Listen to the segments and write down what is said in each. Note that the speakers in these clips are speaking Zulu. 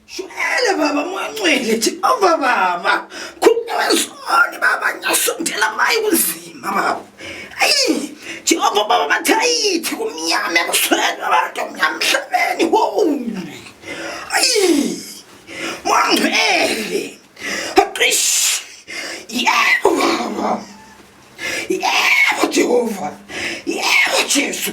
Shwele baba mwancwele Jehova baba. Khululezoni baba nyasondela mayi kunzima baba. Ayi Jehova baba bathayithi kumnyama ekusweni abantu omnyama emhlabeni. Wow. Ayi mwangcwele. Aqish. Yebo baba. Yebo Jehova. Yebo Jesu.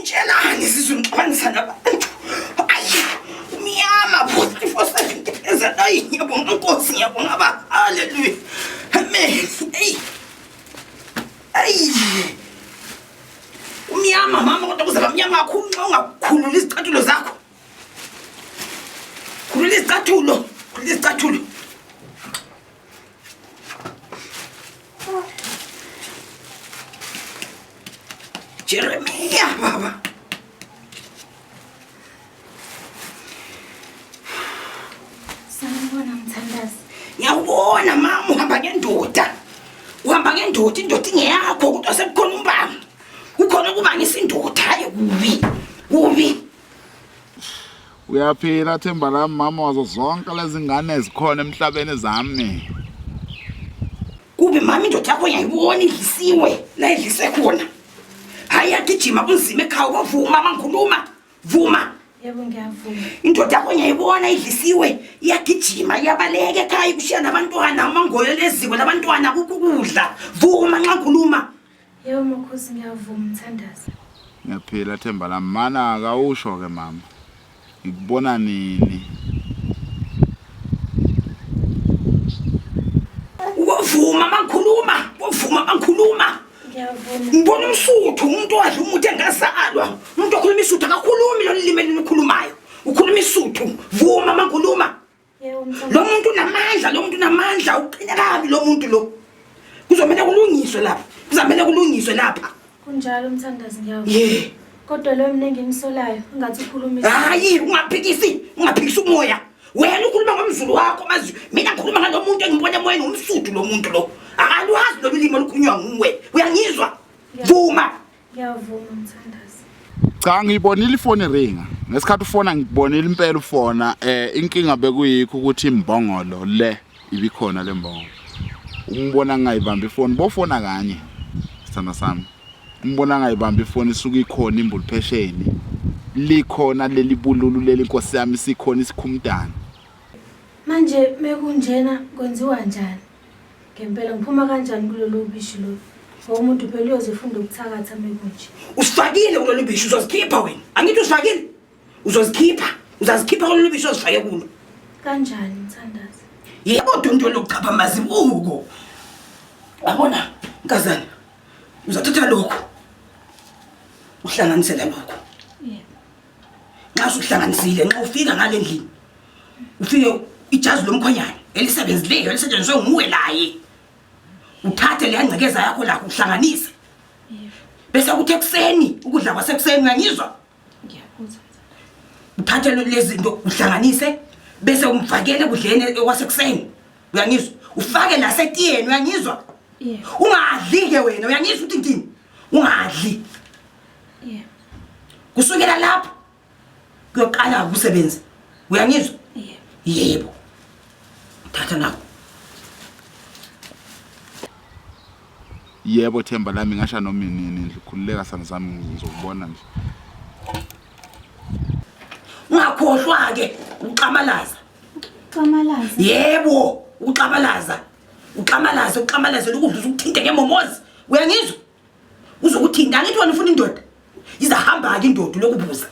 Njenani sizwe ngixabanisa nabantu. Ayi, umyama futhi futhi ngipeza nayi ngiyabonga Nkosi ngiyabonga ba. Haleluya. Amen. Hey. Hey. Umyama mama kodwa kuzaba mnyama kakhulu nxa ungakhulula izicathulo zakho. Khulula izicathulo. Khulula izicathulo. Jeremia baba. Sanibona mthandazi. Ngiyawubona mama uhamba ngendoda. Uhamba ngendoda indoda ingeyakho kodwa sekukhona umbanga. Kukhona ukuba ngisindoda hayi kubi. Kubi. Uyaphila themba lami mama wazo zonke lezi ngane ezikhona emhlabeni zami. Kube mama indoda yakho yayibona idlisiwe la idlise khona. Hayi yagijima kunzima ekhaya kwavuma mama ngikhuluma. Vuma. Yebo ngiyavuma. Indoda yakho yayibona idlisiwe iyagijima iyabaleka ekhaya kushiya nabantwana umangoyo leziko labantwana kukudla. Vuma nxa ngikhuluma. Yebo makhosi ngiyavuma mthandazi. Ngiyaphila themba lami mana akawusho ke mama. Ngikubona nini? Wavuma mangikhuluma, wavuma mangikhuluma. Ngiyavuma. Ngibona umsuthu umuntu wadla umuthi engazalwa. Umuntu okhuluma isuthu akakhulumi lo limi elikhulumayo. Ukhuluma isuthu. Vuma mangikhuluma. lo muntu unamandla lo muntu unamandla uqine kabi lo muntu lo kuzomele kulungiswe lapha kuzamele kulungiswe lapha kunjalo umthandazi ngiyawu ye kodwa lo mina engimisolayo ungathi ukhuluma hayi ungaphikisi ungaphikisi umoya wena ukhuluma ngomzulu wakho mazi mina ngikhuluma ngalo muntu engibona emoyeni umsuthu lo muntu lo akaluhazi lolu limi olukhulunywa nguwe uyangizwa vuma Ngiyavuma mthandazi. Cha ngiyibonile ifoni ringa. Ngesikhathi ufona ngikubonile impela ufona eh inkinga bekuyikho ukuthi imbongolo le ibikhona le mbongolo. Umbona ngingayibamba ifoni bofona kanye. Sithanda sami. Umbona ngingayibamba ifoni isuke ikhona imbulu phesheni. Likhona leli bululu leli nkosi yami sikhona isikhumdana. Manje mekunjena kwenziwa njani? Ngempela ngiphuma kanjani kulolu bishi lo? Ngoba umuntu phela uyoze funda ukuthakatha mekunje. Usifakile kulolu bishi uzozikhipha wena. Angithi usifakile? Uzozikhipha. Uzazikhipha kulolu bishi ozifake kulo. Kanjani mthandazi? Yebo dunto lokuchapha mazibuko. Yabona nkazana. Uzathatha lokho. Uhlanganisela lokho. nxa usuhlanganisile nxa ufika ngale ndlini ufike ijazi lomkhwenyane elisebenzileyo elisetshenziswe nguwe laye uthathe leya ngcekeza yakho lakho uhlanganise bese kuthi ekuseni ukudla kwasekuseni uyangizwa uthathe lezinto uhlanganise bese umfakele kudleni kwasekuseni uyangizwa ufake nasetiyeni uyangizwa ungadli-ke wena uyangizwa ukuthi ngithini ungadli Yeah. Kusukela lapho kuyoqala ukusebenza. Uyangizwa? Yeah. Yebo. Thatha nawo. Yebo Themba lami ngasha noma inini nje khululeka sana sami ngizokubona nje. Ungakhohlwa ke uxamalaza. Uxamalaza. Yebo, uxamalaza. Uxamalaza, uxamalaza lokudluza ukuthinte ngemomozi. Uyangizwa? uzokuthini kangithi wena ufuna indoda izahamba-ke indoda lokubuza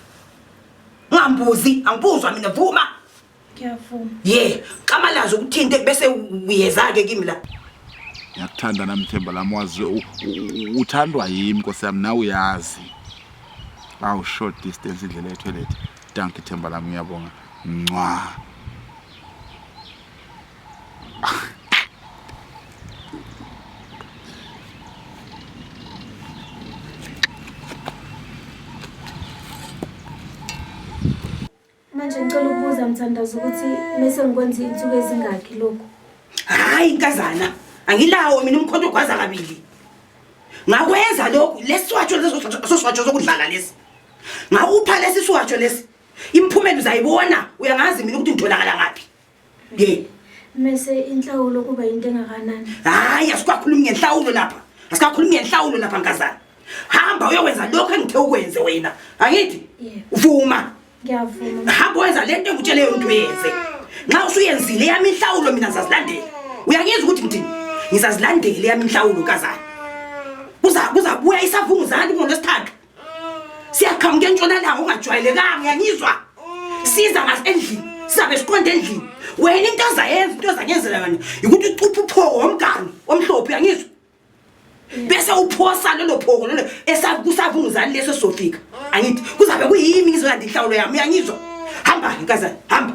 ungambuzi angibuzwa mina vuma ngiyavuma ye yeah. xamalazi ukuthinte bese uyeza-ke kimi la ngiyakuthanda nami themba lami wazi uthandwa yimi nkosi yami nawe uyazi awu short distance indlela yethu elethe danki themba lami uyabonga ncwa Manje ngicela ukubuza mthandazo ukuthi mese ngikwenza insuku ezingaki lokho? Hayi inkazana, angilawo mina umkhonto ogwaza kabili. Ngakwenza lokhu lesiswatsho leso soswatsho sokudlala lesi. Ngakupha lesi swatsho lesi. Imphumela uzayibona, uyangazi mina ukuthi ngitholakala ngaphi. Ye. Mese inhlawulo kuba into engakanani? Hayi asikakhulumi ngenhlawulo lapha. Asikakhulumi ngenhlawulo lapha nkazana. Hamba uyokwenza lokho engithe ukwenze wena. Angithi? Uvuma. Ngiyavuma. Hamba wenza lento engitshele yona ukuthi uyenze. Nxa usuyenzile yami inhlawulo mina ngizazilandela. Uyangizwa ukuthi ngithini? Ngizazilandela yami inhlawulo nkazana. Kuza kuzabuya isavunguzana ngoLwesithathu. siyaqhamuka entshonalanga ungajwayelekanga uyangizwa siza ngaso endlini sizabe siqonde endlini wena into ozayenza into ozanyenzela yona yikuthi ucuphe uphoko womgani omhlophe uyangizwa bese uphosa lelo phoko lelo esavunguzani leso sofika angithi kuzabe kuyimi ngizolanda inhlawulo yami uyangizwa hamba-ke nkazana hamba